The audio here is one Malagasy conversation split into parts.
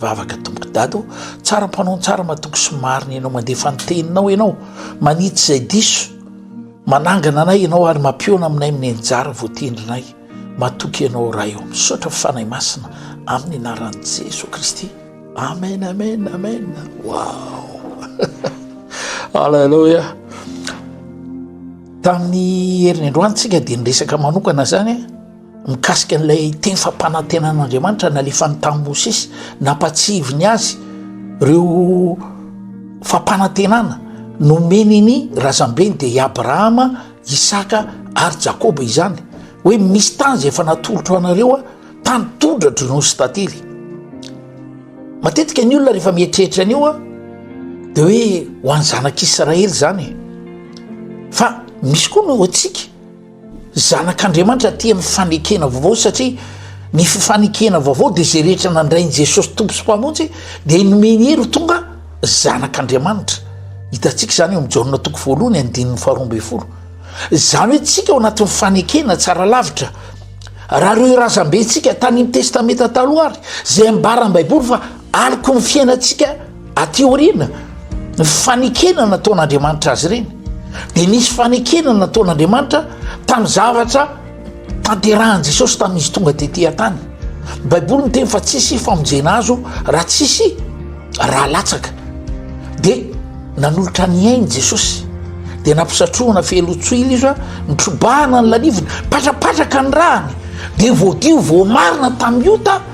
Vavaka tompoko dada o! Tsara mpanao tsara matoky sy marina ianao mandefa ny teninao ianao manitsy izay diso manangana anay ianao ary mampiona aminay amin'ny anjara voatendrinay matoky ianao ray o misaotra fanahy masina amin'ny anaran'i Jesoa Kristy amen amen amen wow alleluia tamin'ny herin'ny androany tsika dia niresaka manokana zany Mikasika an'ilay teny fampanantenan'Andriamanitra nalefany tamin'i Mosesy, nampahatsiahiviny azy ireo fampanantenana nomeny ny razambeny, dia i Abrahama, Isaka ary Jakoba izany, hoe misy tany izay efa natolotro anareo, tany tondra, dronono sy tantely. Matetika ny olona rehefa mieritreritra an'io dia hoe ho an'ny zanak'Israely izany e. Fa misy koa ny ho antsika. Zanak'Andriamanitra tia ny fanekena vaovao satria ny fifanekena vaovao dia izay rehetra nandray an'i Jesosy Tompo sy Mpamonjy dia nomeny hery ho tonga zanak'Andriamanitra. Hitantsika izany eo amin'ny Jaona toko voalohany andininy faharoa ambin'ny folo. Izany hoe tsika ao anatin'ny fanekena tsara lavitra. Raha ireo razambentsika tany amin'ny Testamenta Taloha ary izay ambaran'ny Baiboly fa Aloky ny fiainantsika aty aoriana, ny fanekena nataon'Andriamanitra azy ireny. Dia nisy fanekena nataon'Andriamanitra tamin'ny zavatra tanterahan'i Jesosy tamin'izy tonga tety an-tany. Ny Baiboly miteny fa tsy hisy famonjena azo raha tsy hisy raha latsaka. Dia nanolotra ny ainy Jesosy. Dia nampisatrohana fehelotsoila izy a, nitrobahana ny lalivony, patrapatraka ny ràny, dia voadio voamarina tamin'ny ota,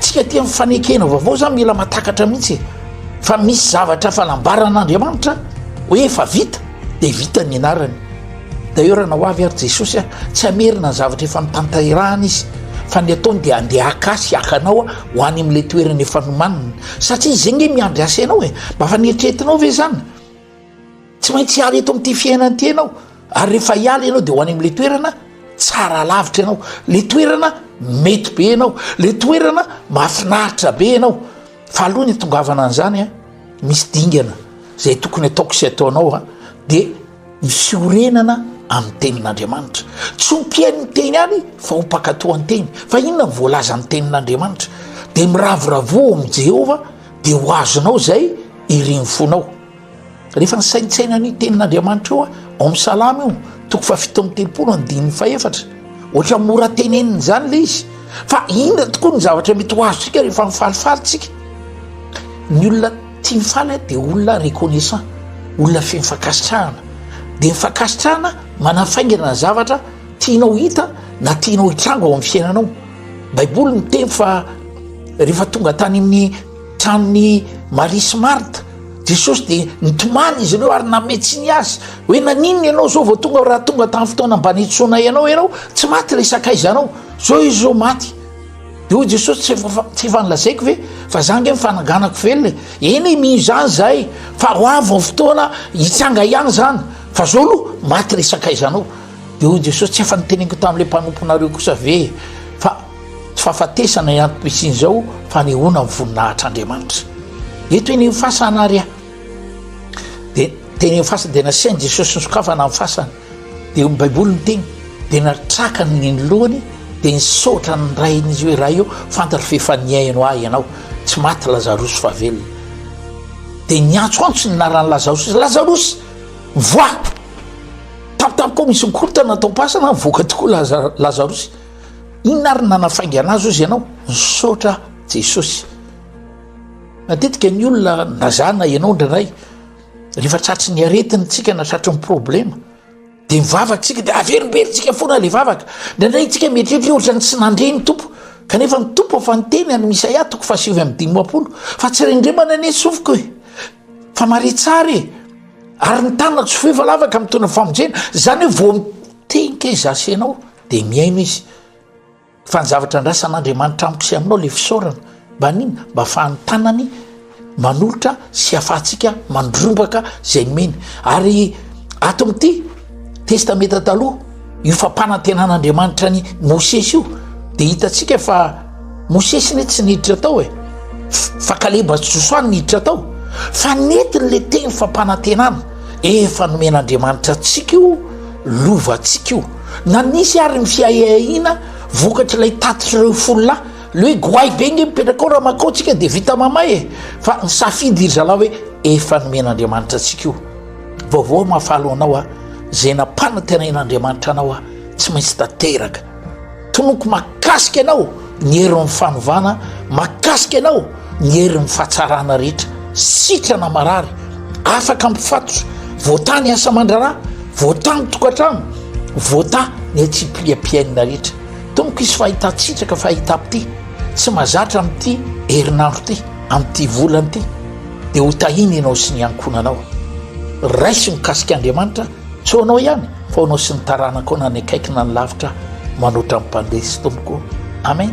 Tsika aty amin'ny fanekena vaovao zany mila matakatra mihitsy e. Fa misy zavatra fanambaran'Andriamanitra hoe efa vita dia vita ny anarany. D'ailleurs na ho avy ary Jesosy aho tsy hamerina ny zavatra efa notanterahana izy fa ny ataony dia andeha haka ahy sy haka anao ho any amin'ilay toerana efa nomaniny satria izy ange miandry asa ianao e. Mba efa nieritreretinao ve izany? Tsy maintsy hiala eto amin'ity fiainana ity ianao ary rehefa hiala ianao dia ho any amin'ilay toerana tsara lavitra ianao, ilay toerana mety be ianao, ilay toerana mahafinaritra be ianao fa aloha ny hitongavana an'izany a, misy dingana izay tokony ataoko sy ataonao a, dia ny fiorenana amin'ny tenin'Andriamanitra, tsy ho mpihaino ny teny ihany fa ho mpankatò ny teny, fa inona no voalaza amin'ny tenin'Andriamanitra? dia miravoravoa ao amin'i Jehovah dia ho azonao izay irin'ny fonao. Rehefa nisaintsaina ny tenin'Andriamanitra eo aho, ao amin'ny Salamo io, toko fahafito amby telopolo andininy fahefatra, ohatra mora tenenina izany ilay izy, fa inona tokoa ny zavatra mety ho azontsika rehefa mifalifaly isika? Ny olona tia mifaly dia olona reconnaissant, olona feno fankasitrahana, dia ny fankasitrahana manafaingana ny zavatra tianao hita na tianao hitranga ao amin'ny fiainanao. Baiboly miteny fa rehefa tonga tany amin'ny Tamin'i Maria sy Marta, Jesosy dia nitomany izy ireo ary nanome tsiny azy hoe naninona ianao izao vao tonga raha tonga tamin'ny fotoana mba nitsoanay anao ianao tsy maty ilay sakaizanao zao izy zao maty de hoy Jesosy tsy efa tsy efa nilazaiko ve fa za nge mifananganako velona eny mino izany zahay fa ho avy ny fotoana hitsanga ihany zany fa zao aloha maty ilay sakaizanao de hoy Jesosy tsy efa niteneniko tamin'ilay mpanomponareo kosa ve fa tsy fahafatesana ihany toy isiny izao fanehoana ny voninahitr' Andriamanitra eto eny ny fasana ary ahy dia teny ny fasana dia nasain' Jesosy ny sokafana ny fasana dia ny baiboly ny teny dia natraka ny ny lohany dia nisaotra ny rain' izy hoe raha eo fantatro fa efa nihaino ahy ianao tsy maty lazarosy fa velona dia niantsoantso ny narany lazarosy lazarosy voa tampotampoka misy ny korotana atao-pasana voaka tokoa laza lazarosy Inona ary nanafaingana azy ozy ianao? Misaotra Jesosy. Matetika ny olona na za na ianao indraindray rehefa tratry ny aretiny tsika na tratry ny problema dia mivavaka tsika dia averimberitsika foana le vavaka indraindray tsika mieritreritra ohatra ny tsy nandre ny tompo kanefa ny tompo fa niteny any misaia toko fahasivy amin'ny dimapolo fa tsy rendremana anie sofiko e fa mare tsara e ary ny tana tsy fo efa lavaka mitona famonjena zany hoe voa mitenka izasenao dia mihaino izy fa ny zavatra andrasan'andriamanitra amiko sy aminao le fisaorana mba nina mba fahany tanany manolotra sy afahantsika mandrombaka zay nomeny ary ato amity testameta taloha io fampanantenan'andriamanitra ny mosesy io de hitatsika fa Mosesy ne tsy niditra tao e, fa kaleba sy josoa no niditra tao, fa nentiny le teny fampanantenana efa nomen'andriamanitra antsika io lovantsika io, na nisy ary ny fiahiahiana vokatr'ilay tatitr'ireo folo lahy, le hoe goay be nge mipetraka ao raha makao tsika de vita mamay e, fa nisafidy ry zalahy hoe efa nomen'andriamanitra antsika io, vaovao aho mahafaly ho anao a, zay nampanantenain'andriamanitra anao a, tsy maintsy tanteraka. Tonoko mahakasika anao ny herin'ny fanovana, mahakasika anao ny herin'ny fahatsarana rehetra. Sitrana marary, afaka mifatotra, voatà ny asa mandrara, voatà ny tokantrano, voatà ny atsipiliam-piainana rehetra. Tonoko hisy fahitan-tsitraka, fahitam-pity tsy mazatra amin'ity herinandro ity, amin'ity volana ity. Dia ho tahiana ianao sy ny ankohonanao. Raiso mikasika Andriamanitra Tsy ho anao ihany fa ho anao sy ny taranakao na ny akaiky na ny lavitra manoatra ny mpandresy tompoko. Amen.